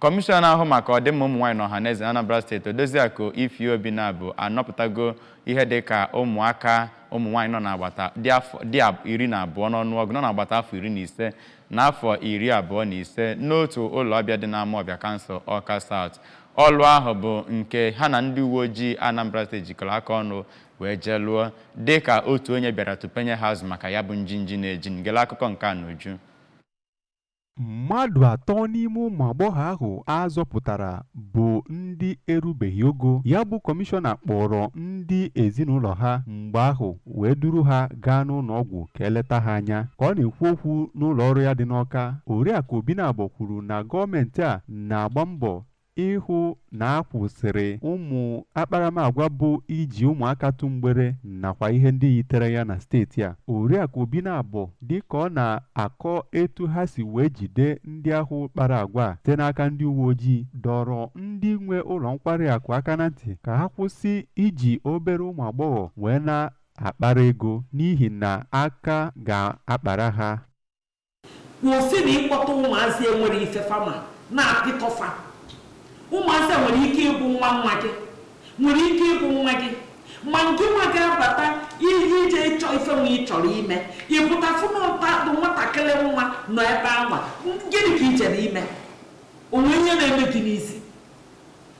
Kọmishọna na-ahụ maka ọdịmma ụmụnwaanyị na ọhaneze n'Anambra steeti Odoziakụ Ify Obinabo anọpụtago ihe dịka ụmụaka ụmụnwaanyị nọ n'agbata dị afọ dị ab- iri na abụọ n'ọnụọgụ nọ n'agbata afọ iri na ise na afọ iri abụọ na ise n'otu ụlọ ọbịa dị n'Amawbịa kansụl Awka South. Ọlụ ahụ bụ nke ha na ndị uwe ojii Anambra steeti jikọrọ aka ọnụ wee jee lụọ dịka otu onye bịara tupenye ha azụ maka ya bụ njinji na-eji ngele akụkọ nke a n'uju. Mmadụ atọ n'ime ụmụ agbọghọ ahụ a zọpụtara bụ ndị erubeghị ogo. Ya bụ kọmishọna kpọrọ ndị ezinụlọ ha mgbe ahụ wee duru ha gaa n'ụlọ ọgwụ ka e leta ha anya. Ka ọ na-ekwu okwu n'ụlọ ọrụ ya dị n'Ọka, Oriakụ Obinabọ kwuru na gọọmenti a na-agba mbọ ịhụ na a kwụsịrị ụmụ akparamagwa bụ iji ụmụaka tụ mgbere nakwa ihe ndị yitere ya na steeti a oriakụ obinabọ dịka ọ na-akọ etu ha si wee jide ndị ahụ kpara agwa a site n'aka ndị uwe ojii dọrọ ndị nwe ụlọ nkwari akụ aka na ntị ka ha kwụsị iji obere ụmụ agbọghọ wee na-akpara ego n'ihi na aka ga-akpara ha kwụsịnụ ịkpọta ụmụazị enwere ife fa ma na-apịtọ fa ụmụazị a nwere ike ịbụ nwa nwa gị nwere ike ịbụ nwa gị ma nke nwa ga-abata ihe ije ịchọ ife nwa ị chọrọ ime ị pụta fụ nwata bụ nwatakịrị nwa nọ ebe anwa gịnị ka i jere ime o nwe ihe na-eme gị n'isi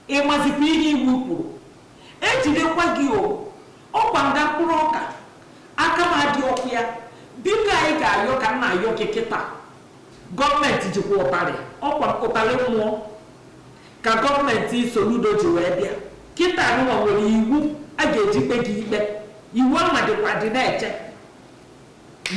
Ị mazikwa ihe iwu kwuru. E jidekwa gị o. Ọ kwa nga mkpụrụ ọka, aka m adịrọkwa ya. Biko ayịyọ ka m na-ayọ gị kịta. Gọọmenti jikwa ụtarị. Ọ kwa ụtarị mmụọ ka gọọmenti Soludo ji wee bịa. Kịta anụnwa e nwere iwu a ga-eji kpe gị ikpe. Iwu anwa dịkwa adị na-eche.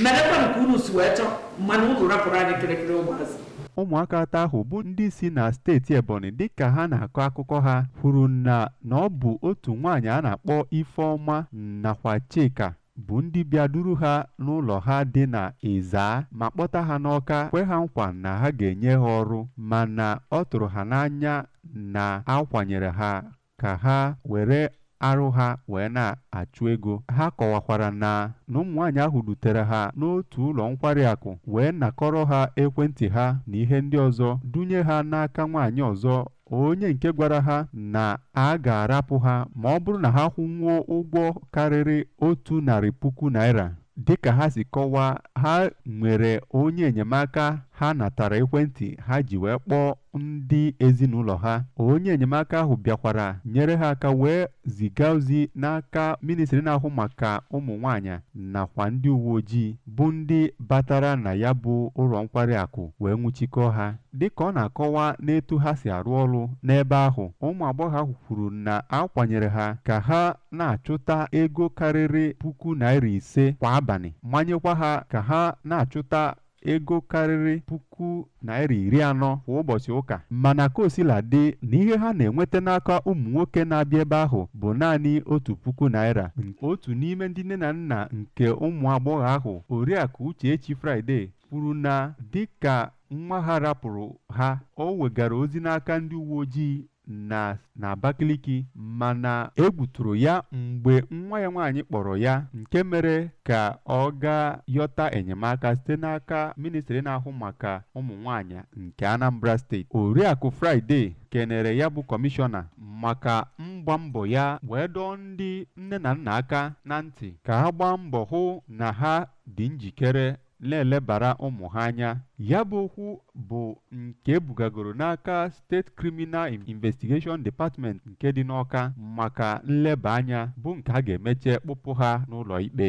merekwa nke unu si wee chọọ mana unu rapụrụ anyị kịrịkịrị ụmụazị ụmụaka atọ ahụ bụ ndị si na steeti ebonyi dịka ha na-akọ akụkọ ha kwuru na na ọ bụ otu nwaanyị a na-akpọ ifeọma nakwa chika bụ ndị bịa duru ha n'ụlọ ha dị na ịzaa ma kpọta ha n'ọka kwe ha nkwa na ha ga-enye ha ọrụ mana ọ tụrụ ha n'anya na a kwanyere ha ka ha were arụ ha wee na-achụ ego. Ha kọwakwara na na ụmụnwaanyị ahụ dutere ha n'otu ụlọ nkwari akụ wee nakọrọ ha ekwentị ha na ihe ndị ọzọ dunye ha n'aka nwaanyị ọzọ onye nke gwara ha na a ga-arapụ ha ma ọ bụrụ na ha kwụnwuo ụgwọ karịrị otu narị puku naira Dịka ha si kọwaa, ha nwere onye enyemaka ha natara ekwentị ha ji wee kpọọ ndị ezinụlọ ha. Onye enyemaka ahụ bịakwara nyere ha aka wee ziga ozi n'aka ministri na-ahụ maka ụmụ nwaanyị nakwa ndị uwe ojii bụ ndị batara na ya bụ ụlọ nkwari akụ wee nwụchikọọ ha. Dịka ọ na-akọwa n'etu ha si arụ ọrụ n'ebe ahụ, ụmụ agbọghọ ahụ kwuru na a kwanyere ha ka ha na-achụta ego karịrị puku naira ise kwa abalị manyekwa ha ka ha na-achụta ego karịrị puku naira iri anọ kwa ụbọchị ụka mana ka o sila dị na ihe ha na-enweta n'aka ụmụ nwoke na-abịa ebe ahụ bụ naanị otu puku naira otu n'ime ndị nne na nna nke ụmụ agbọghọ ahụ oriakụ Uchechi Friday kwuru na dịka nwa ha rapụrụ ha o wegara ozi n'aka ndị uwe ojii nọ n'Abakaliki mana egwu tụrụ ya mgbe nwa ya nwaanyị kpọrọ ya nke mere ka ọ gaa yọta enyemaka site n'aka ministri na-ahụ maka ụmụ nwaanyị nke Anambra steeti Oriakụ Friday kenere ya bụ kọmishọna maka mgba mbọ ya wee dọọ ndị nne na nna aka na ntị ka ha gbaa mbọ hụ na ha dị njikere na-elebara ụmụ ha anya ya bụ okwu bụ nke e bugagoro n'aka State Criminal Investigation Department nke dị n'Ọka maka nleba anya bụ nke a ga-emecha kpụpụ ha n'ụlọ ikpe